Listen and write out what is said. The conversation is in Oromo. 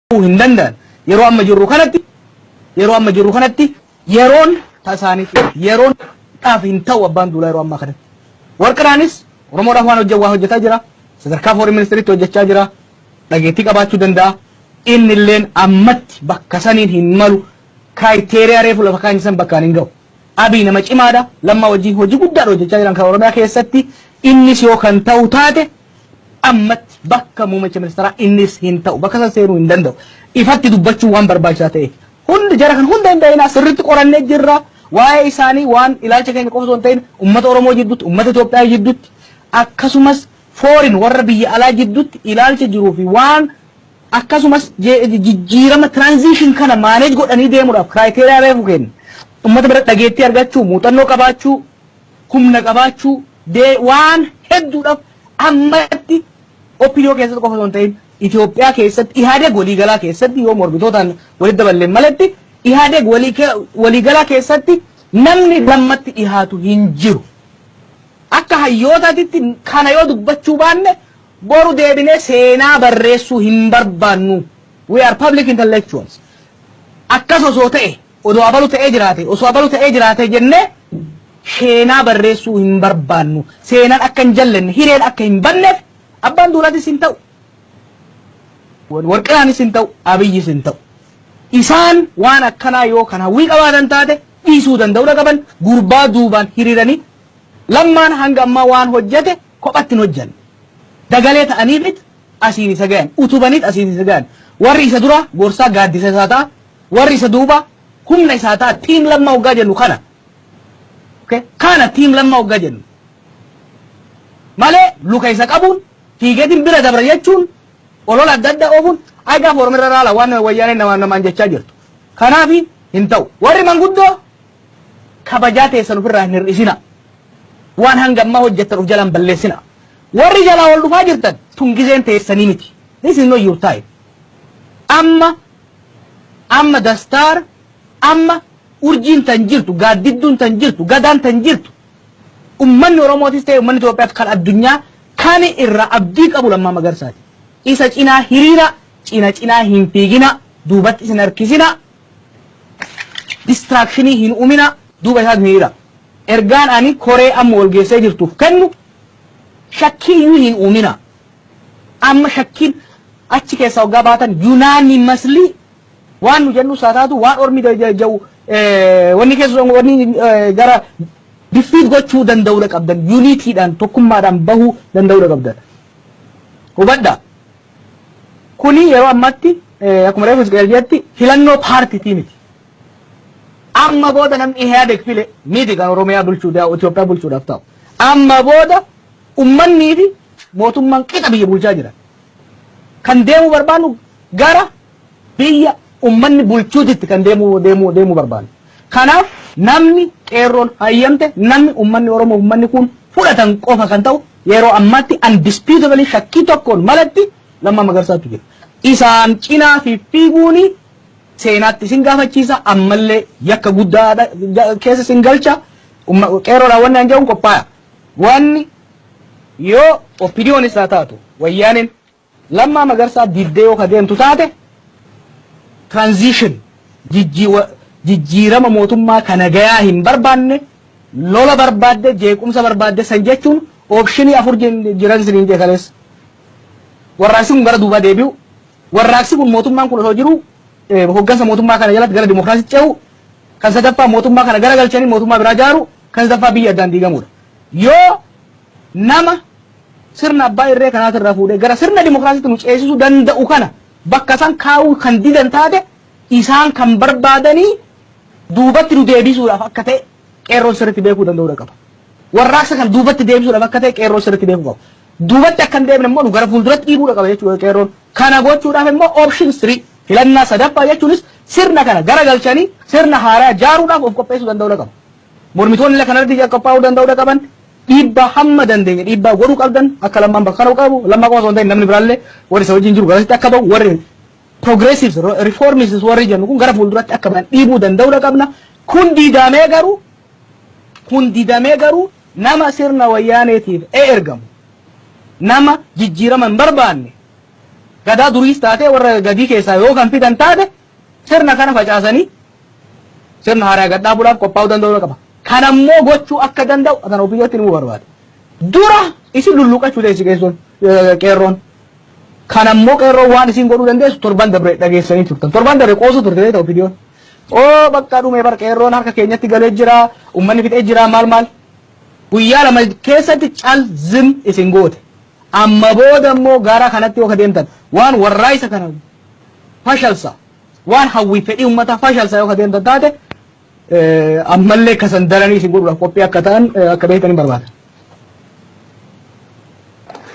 ta'uu hin danda'an. Yeroo amma jirru kanatti yeroo amma jirru kanatti yeroon tasaaniif yeroon dhaaf hin ta'u abbaan duulaa yeroo ammaa kanatti. Warqinaanis Oromoodhaaf waan hojjetu waa hojjetaa jira. Sadarkaa foreign ministeritti hojjechaa jira. Dhageettii qabaachuu danda'a. Inni illeen ammatti bakka saniin hin malu. Kiraayiteriyaa reefu lafa kaa'inni san bakkaan hin ga'u. Abiy nama cimaadha. Lammaa wajjin hojii guddaadha hojjechaa jiran kan Oromiyaa keessatti. Innis yoo kan ta'u taate ammatti bakka muummicha ministeeraa innis hin ta'u bakka san seenuu hin danda'u ifatti dubbachuu waan barbaachisaa ta'eef hundi jara kan hunda hin da'inaa sirritti qorannee jirra waa'ee isaanii waan ilaalcha keenya qofa osoo hin ta'in ummata Oromoo jidduutti ummata Itoophiyaa jidduutti akkasumas foorin warra biyya alaa jidduutti ilaalcha jiruu fi waan akkasumas jijjiirama transition kana maaneej godhanii deemuudhaaf kiraayiteriyaa reefu kenna ummata bira dhageettii argachuu muuxannoo qabaachuu humna qabaachuu, dee waan hedduudhaaf ammatti OPDO keessatti qofa osoo hin ta'in Itoophiyaa keessatti Ihaadeg waliigalaa keessatti yoo mormitootaan walitti daballeen maletti Ihaadeg waliigalaa keessatti namni lammatti dhihaatu hin jiru. Akka hayyootaatitti kana yoo dubbachuu baanne boru deebinee seenaa barreessuu hin barbaannu. We are public intellectuals. Akkas osoo ta'e Odoo abalu ta'ee jiraatee, osoo abalu ta'ee jiraatee jennee sheenaa barreessuu hin barbaannu. Seenaan akka hin jallenne, hireen akka hin badneef Abbaan Duulaatis hin ta'u, Warqinaanis hin ta'u, Abiyyis hin ta'u. Isaan waan akkanaa yoo kan hawwii qabaatan taate dhiisuu danda'uudha qaban, gurbaa duubaan hiriiranii Lammaan hanga ammaa waan hojjete kophatti hin hojjanne. Dagalee ta'aniifit asiin isa gayan, utubaniit asiin isa gayan. Warri isa duraa gorsaa, gaaddisa isaa ta'a. Warri isa duubaa humna isaa ta'a. Team Lammaa hoggaa jennu kana. Okay? Kana team Lammaa hoggaa jennu. Malee luka isa qabuun fiigeetiin bira dabra jechuun olola adda addaa oofuun ay gaafa Oromirra raala waan wayyaaneen namaan namaan jechaa jirtu. Kanaafi hin ta'u. Warri manguddoo kabajaa teessan ufirraa hin hir'isinaa. Waan hanga ammaa hojjettan uf jalaa hin balleessinaa. Warri jalaa ol dhufaa jirtan tun gizeen teessanii miti. This is not your time. Amma amma the star amma urjiin tan jirtu gaaddidduun tan jirtu gadaan tan jirtu ummanni Oromootis ta'e ummanni Itoophiyaas kan addunyaa kan irraa abdii qabu Lammaa Magarsaati. Isa cinaa hiriira cina cinaa hin fiigina duubatti isin harkisina distraction hin uminaa duuba isaat hiriiraa. Ergaan ani koree amma wal geessee jirtuuf kennu shakkii iyyuu hin uuminaa. Amma shakkiin achi keessaa hoggaa baatan unanimously waan nu jennus haa taatu waan ormi ja'u wanni keessa wanni gara defeat gochuu danda'uudha qabdan unitiidhaan tokkummaadhaan bahuu danda'uudha qabdan. Hubadhaa. Kuni yeroo ammatti akkuma reefu Hizqeel jedhetti filannoo paartiitii miti. Amma booda namni Ihaadeg file miti kan Oromiyaa bulchuu daa Itoophiyaa bulchuudhaaf ta'u. Amma booda ummannii fi mootummaan qixa biyya bulchaa jiran. Kan deemuu barbaannu gara biyya ummanni bulchuutitti kan deemuu deemuu deemuu barbaannu. Kanaaf namni qeerroon hayyamte namni ummanni Oromoo ummanni kun fudhatan qofa kan ta'u Yeroo ammaatti undisputably shakkii tokkoon malatti Lammaa Magarsaatu jira. Isaan cinaa fiffiiguun seenaatti isin gaafachiisa, ammallee yakka guddaa keessa isin galcha. Qeerroodhaan wanni an jedhun qophaa'a. Wanni yoo OPDOnis haa taatu Wayyaaneen Lammaa Magarsaa dibdee yoo ka deemtu taate transition jijjiirama mootummaa ka nagayaa hin barbaanne lola barbaadde jeequmsa barbaadde san jechuun optionii afur jiran isiniin jee kaleessa. Warraaqsi kun gara duubaa deebi'u warraaqsi kun mootummaan kun osoo jiruu hoggansa mootummaa kana jalatti gara dimokiraasitti ce'u kan sadaffaa mootummaa kana gara galchanii mootummaa biraa jaaru kan sadaffaa biyyi addaan diigamuudha. Yoo nama sirna abbaa irree kanaatiin irraa fuudhee gara sirna dimokiraasiitti nu ceesisuu danda'u kana bakka san kaa'uu kan didan taate isaan kan barbaadanii duubatti nu deebisuudhaaf akka ta'e qeerroon sirriitti beekuu danda'uudha qaba. Warraaqsa kan duubatti deebisuudhaaf akka ta'e qeerroon sirriitti beekuu qaba. Duubatti akka hin deebine immoo nu gara fuulduratti dhiibuudha qaba jechuudha qeerroon. Kana gochuudhaaf immoo option 3 filannaa sadaffaa jechuunis sirna kana gara galchanii sirna haaraa jaaruudhaaf of qopheessuu danda'uudha qaba. Mormitoonni illee kanarratti qophaa'uu danda'uudha qaban. Dhiibbaa hamma dandeenye dhiibbaa godhuu qabdan akka Lammaan bakka kana qabu, Lammaa qofa osoo hin ta'in namni biraallee warri isa wajjin jiru garasitti akka ba'u, warri progressives, reformists warri jennu kun gara fuulduratti akka ba'an dhiibuu danda'uudha qabna. Kun didamee garuu kun didamee garuu nama sirna wayyaaneetiif e ergamu nama jijjiirama hin barbaanne gadaa duriis taatee warra gadii keessaa yoo kan fidan taate Sirna kana facaasanii sirna haaraa gad dhaabuudhaaf qophaa'uu danda'uu qaba. Kana immoo gochuu akka danda'u kan OPDOtti himuu barbaada. Dura isin lulluuqachuu teessi qeessoon qeerroon. Kana immoo qeerroon waan isin godhuu dandeessu torban dabre dhageessanii turtan. Torban dabre qoosuu turte beekta OPDOn. Oo bakka dhume bar qeerroon harka keenyatti galee jira, uummanni fixee jira maal maal. Guyyaa lama keessatti cal zim isin goote. Amma booda immoo gara kanatti yoo deemtan waan warraaqsa kana fashalsa. Waan hawwii fedhii ummataa fashalsa yoo ka deemtan taate ammallee ka san daranii isin godhuudhaaf qophii akka ta'an akka beektan hin barbaada.